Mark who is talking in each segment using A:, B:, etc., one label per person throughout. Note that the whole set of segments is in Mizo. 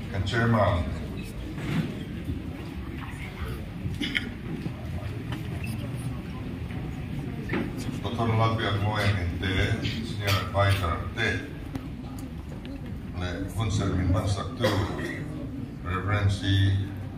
A: Kan Chairman, Doctor Lalpian Mueng in te, Senior Advisor te leh hun serh min hmansak tu Rev. Sri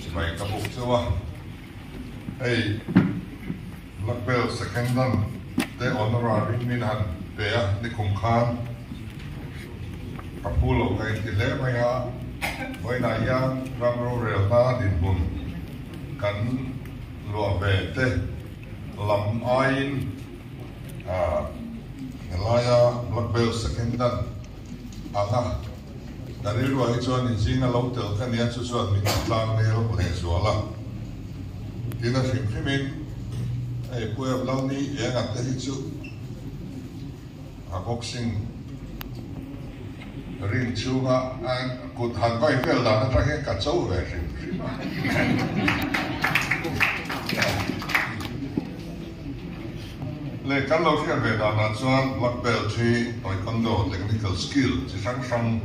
A: Chulai ka buk chauh a, hei black belt second dan te honorary min han pe a nikhum khan ka phu lo ka inti hle mai a, vawiinah hian ram rorel hna dinhmun kan luah ve te lam aiin helaia black belt second dan anga. Ka rilruah hi chuan i zing a lo tel kha nia chu chuan min in tlang vel a pahnih zual a tin a hrim hrim in ei pu em lo ni eng a te hi chu a boxing ring chhung a kut han vai vel dan a tang hian ka cho ve hrim hrim a. Leh kan lo hriat ve danah chuan Black Belt hi Taekwondo Technical Skill chi hrang hrang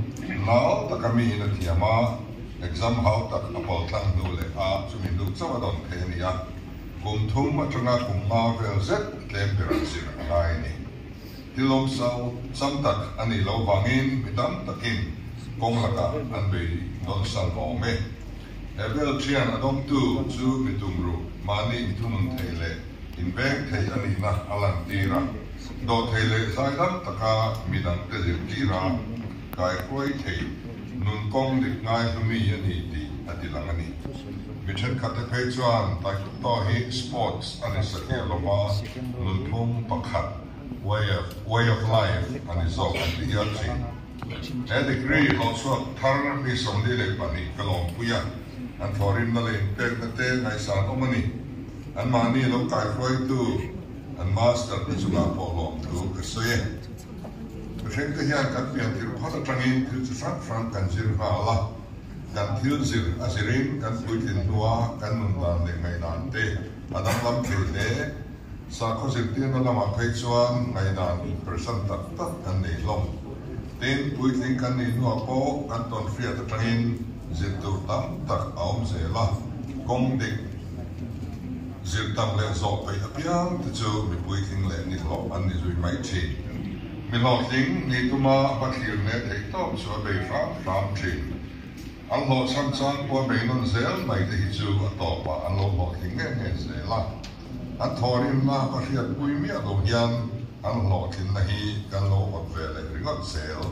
A: lau taka miin a thiam a, exam hau tak a pawl tlang hnu leh a chumi hnu chauh a dawn phei a ni a, kum thum atanga kum mau vel zet tlem ber an zir a ngai a ni. Hi lawm so chang tak a nih loh vangin mi tam takin kawng lakah an bei dawn san awm e. He vel thian a dawmtu chu mi tumruh mahni inthunun theih leh inveng theih a nihna a lantir a, dawh theih leh zai lam taka mi dangte zirtira kaikuai thei nun kawng dik ngai hlu mi a ni tih a ti lang a ni. Mi thenkhatte phei chuan Taekwondo hi sports a ni satliah lova nunphung pakhat way of life a ni zawk kan ti hial thin. He degree lo chhuak thar mi sawmli leh pahnih ka lawmpui a, an thawhrimna leh inpekna te ngaihsan awm a ni. Anmahni lo kaihruaitu an master te chungah pawh lawmthu ka sawi e. Thuhrengte hian kan fianthir phawt atangin thil chi hrang hrang kan zir nghal a, kan thil zir a zirin kan puitlin hnua kan nun dan leh ngaihdan te a danglam thei hle. Sakhaw zirtirna lamah phei chuan ngaidan inperchan tak tak kan nei hlawm. Tin, puitling kan nih hnuah pawh kan tawnhriat atangin zir tur tam tak a awm zel a. Kawng dik, zir tam leh zawh phei apiang te chu mi puitling leh nihlawh an ni zui mai thin. Mi hlawhtling ni tuma a hma thlir leh theih tawk chu a bei hram hram thin. An hlawh chhan chuan kua bei nawn zel mai te hi chu a tawpah an lo hlawhtling nge nge zel a. An thawhrimna ka hriatpui miah lo hian an hlawhtlinna hi kan lo awt ve leh ringawt zel.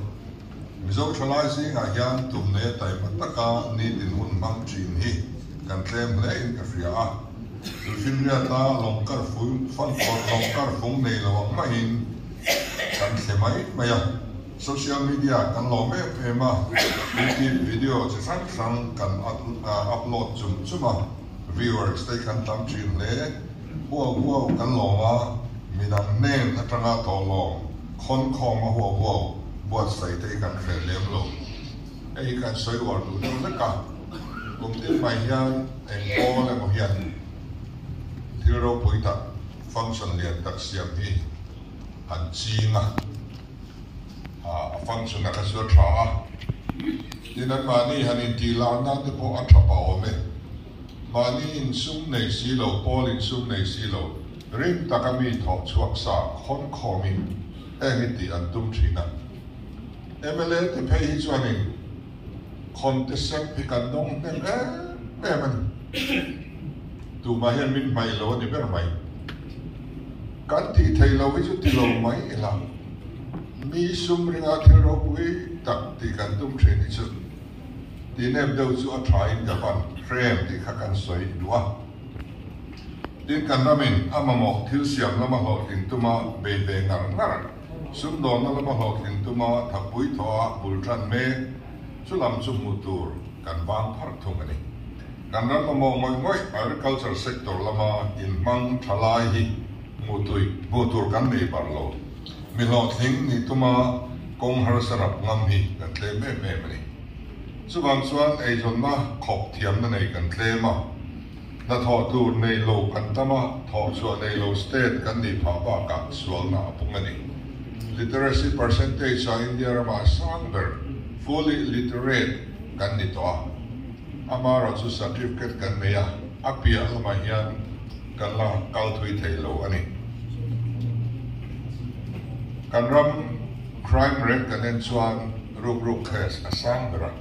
A: Mizo thalai zingah hian tumne taima taka ni dinhmun hmang thin hi kan tlem hle in ka hria a, chu Hlimhriata lawng kar fung Fanfawt lawng kar fung nei lo ang mai in kan thli mai mai a, social media kan lawm em em a, YouTube video chi hrang hrang kan upload chum chum a. viewers te khan tam thin hle. Huau huau kan lawm a, min ang nen atanga tawhlawm khawn khawm a huau huau, buatsaih te i kan hre lem lo. Hei hi kan sawi uar duh deuh vek a, kum ding mai hian eng kawl emaw hian thil ropui tak function lian tak siam hi han ching a. A fan chu na ka zir tha a, tin an mahni han intih lak nan te pawh a tha pa awm e. Mahni insum nei si lo, Paul insum nei si lo, ring tak a mi thawh chhuak sa khawn khawm in heng i tih an tum thin a. Mla ti phei hi chuan in khawnte sem hi kan nawng hnem em em a ni. Tumah hian min hmaih lo a ni ber mai. Kan tih thei lo hi chu ti lo mai ila, mi sum ringa thil ropui tak tih kan tum thin hi chu ti nep deuh chu a tha in ka van hrem tih kha kan sawi duh a. Tin kan ram in a mamawh thil siam lama hlawhtling tuma bei ve ngar ngar, sumdawnna lama hlawhtling tuma thapui thawha bul tan mek, chu lam chu hmuh tur kan vang pharh thung a ni. Kan ram mamawh ngawih ngawih agriculture sector lama inhmang tha lai hi hmuh tui hmuh tur kan nei bar lo. Mi hlawhtling ni tuma kawng harsa rap ngam hi kan tlem em em a ni. Chuvang chuan eithawnna khawp thiamna nei kan tlem a. Hnathawh tur nei lo kan tam a, thawh chhuah nei lo state kan nih phah bakah sualna a pung a ni. Literacy percentage a India rama sang ber, fully literate, kan ni tawh a. A hma erawh chu certificate kan nei a, a piah lamah hian kan la kal thui thei lo a ni. Kan ram crime rate kan en chuan rukruk case a sang ber a.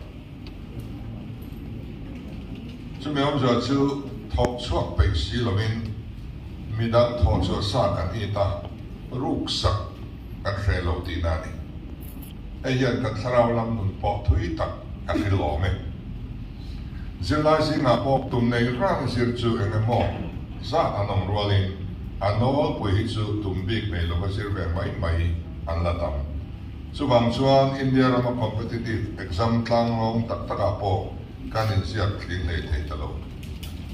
A: Chumi awmzia chu thawk chhuak peih si lovin midang thawhchhuah sa kan i ta, ruksak kan hreh lo tihna a ni. Hei hian kan thlarau lam nun pawh thui tak ka hrilh awm e. Zirlai zingah pawh tumnei rang zir chu eng emaw zat an awm rualin a nawlpui hi chu tum bik nei lova zir ve mai mai an la tam. Chuvang chuan India rama competitive exam tlangrong tak takah pawh kan inziak tling ngei thei ta lo.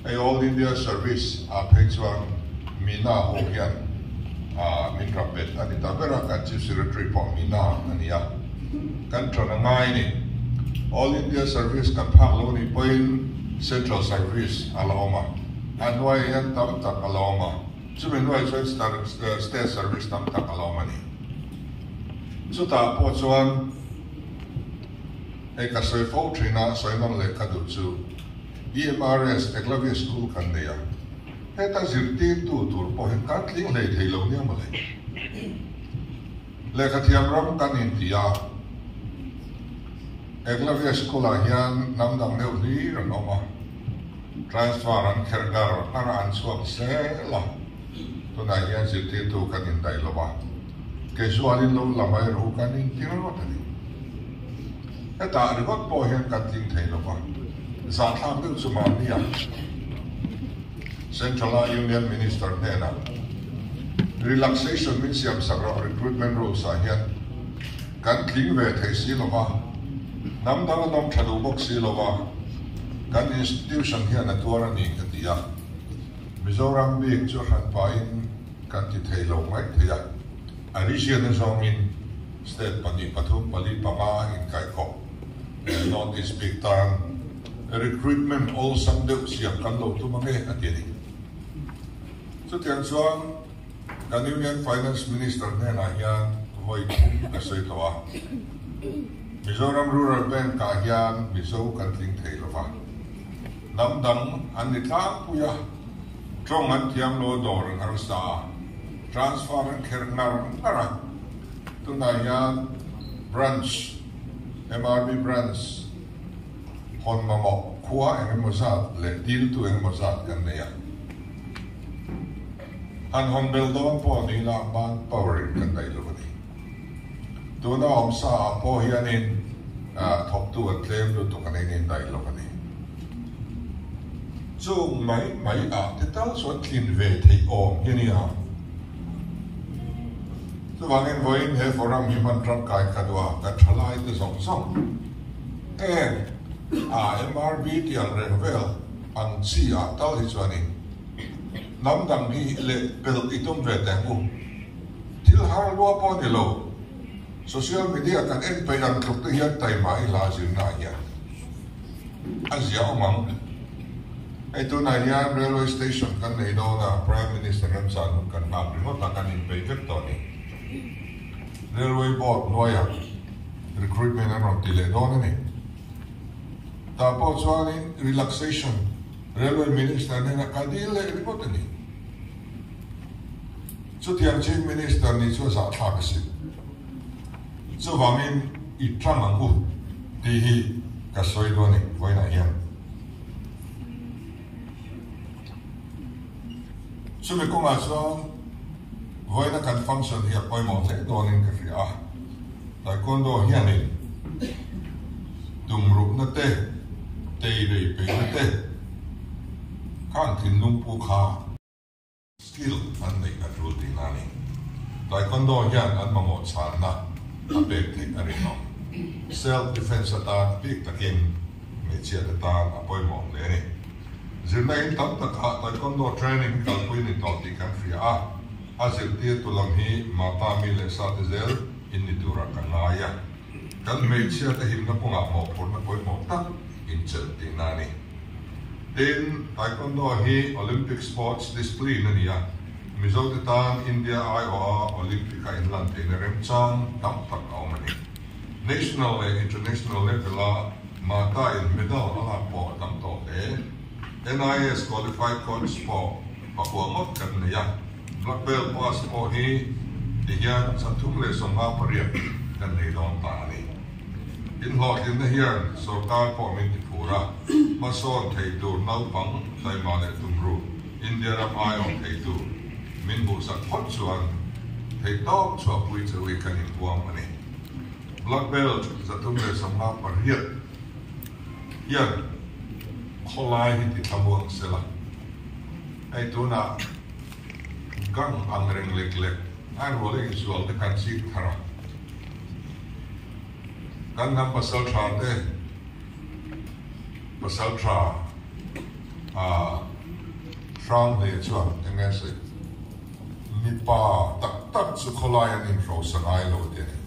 A: Hei All India Service ah phei chuan Mina ho hian min ram bet a ni ta ber a, kan Chief Secretary pawh Mina a ni a. Kan tan a ngai ni. All India Service kan phak lo nih pawhin Central Service a la awm a, a hnuai ah hian tam tak a la awm a, chumi hnuai chuan State Service tam tak a la awm a ni. Chutah pawh chuan hei ka sawi fo thin a, sawi nawr leh ka duh chu EMRS Eklavia School kan nei a, heta zirtirtu tur pawh hi kan tling hlei thei lo nia mawle. Lehkha thiam ram kan inti a, Eklavia School ah hian hnam dang deuh hlir an awm a. Transfer an kher gar har a an chhuak sel a, tunah hian zirtirtu kan indaih lo a, Kezualin lo la mai ru kan inti rawt a ni. Hetah ringawt pawh hian kan tling thei lo va, zahthlak deuh chu mahnia Central a Union Minister hnena Relaxation min siamsak rawh, Recruitment Rules ah hian. kan tling ve thei si lo va, hnam dang a nawm tha duh bawk si lo va, kan institution hian a tuar a ni, ka ti a. Mizoram bik chu hran pahin kan ti thei lo ngaih thei a, a region a zawngin state pahnih, pathum, pali, panga a inkaihkhawp leh North East bik tan recruitment awlsam deuh siam kan lo tum ange, a ti a ni. Chutiang chuan. Kan Union Finance Minister hnenah hian vawi chhung ka sawi tawh a, Mizoram Rural Bank ah hian Mizo kan tling thei lo va, lam dang an ni tlangpui a, tawng an thiam lo dawr an har sa a, transfer an kher ngar ngar a, tunah hian Branch, MRB Branch, hawn mamawh, khua eng emaw zat leh diltu eng emaw zat kan nei a. Han hawn bel dawn pawh a nihna ah hmaan power in kan ngaih lo a ni. Tuna awm sa ah pawh hian in thawktu an tlem lutuk an in indaih lo a ni. Chung mai mai ah te tal chuan thlin ve theih awm hi a ni a. Chuvang in vawi in he forum hi hman tangkai ka duh a, kan tha lai te zawng zawng heng a MRB tiang reng vel ang chi ah tal hi chuan in, Hnam dang hi leh pelh i tum ve teh u. Thil har lua pawh ni lo, social media kan en peih ang tluk te hian taima i hla zir na hian a zia awm ang. Hei tunah hian railway station kan nei dawn a, Prime Minister remchang hun kan nghak ringawt a, kan inpeih vek tawh ni. Railway board hnuaiah recruitment an rawn ti leh dawn a ni. Tah pawh chuan in relaxation. Railway Minister nen a kal dil leh ringawt a ni. Chutiang Chief Minister nih chu a zahthlak a si. Chuvangin i tang ang u tih hi ka sawi dawn a ni vawiinah hian. Chumi kawngah chuan vawiina kan function hi a pawimawh hle dawnin ka hria a, Taekwondo hianin tumruhna te, tei rei peina te kha an thinlung puk a. Skill an neih a tul tih nani Taekwondo hian an mamawh chhanna a pek theih a rinawm. Self defence atan bik takin hmeichhia te tan a pawimawh hle a ni. Zirna in tam takah Taekwondo training kalpui ni tawh tih kan hria a, a zirtirtu lam hi Mapa mi leh sate zel in ni turah ka ngai a. Kan hmeichhia te himna kawngah mawhphurhna pawimawh tak inchelh tihna a ni. Tin, Taekwondo hi Olympic sports displin a ni a, Mizote tan India aiawha Olympic a inlantheihna remchang tam tak a awm a ni. National leh International level a. Martha in middle a ngak pawh a tam tawh hle. NIS qualified points pawh pakua ngawt kan nei a, black belt pass pawh hi tihian chhan thum leh sawmnga pariat kan nei dawn ta a ni. Inhlawhtlinna hian sorkar pawh min ti phur a, hmasawn thei tur naupang tlaima leh tumru India ram ai awm thei tur min hmuhsak phawt chuan theihtawp chhuahpui che ui kan inbuam a ni. Black Belt zatum leh sam lak pariat hian khawlai hi ti thlamu ang sela, hei tunah gang ang reng lek lek ngaihrual a insual te kan chik thar a, kan hnam pasal tha te pasal tha a hrang hle chuan eng nge sawi? Mipa tak tak chu khawlai an inhrosa ngai lo tih a ni.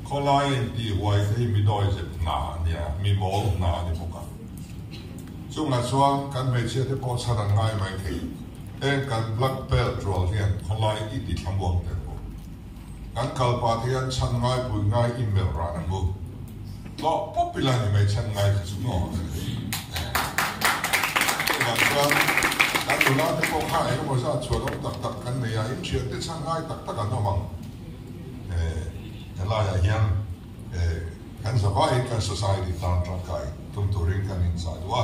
A: Khawlai a intihhuai te hi midawi zet hna a ni a, mimawm hna a ni bawk a. Chungah chuan kan hmeichhia te pawh chhan an ngai mai thei. Heng kan black belt rual hian khawlai i ti thlamuak der bawk. Kan kalpat hi an chhan ngai pui ngai i melh rah na bu. Tlawh pawp ila ni mai chhan ngai kha chu maw ka ti thei. Chuvang chuan kan nula te pawh kha engemaw zat chhuah lawm tak tak kan nei a, inthian te chhan ngai tak tak an awm ang. Helaiah hian kan zavaiin kan society tlan tangkai tum turin kan inchah duh a.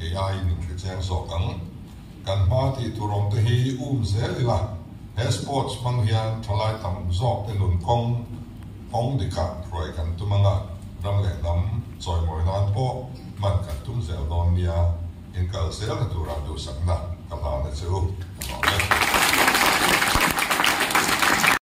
A: AI min hricheng zawk ang. Kan hma tih tur awm te hi um zel ila, he sports hmang hian thalai tam zawk te nun kawng hawng dikah hruai kan tum anga ram leh hnam chawimawi nan pawh hman kan tum zel dawn nia in kal selna tura duhsakna ka hlan a chu.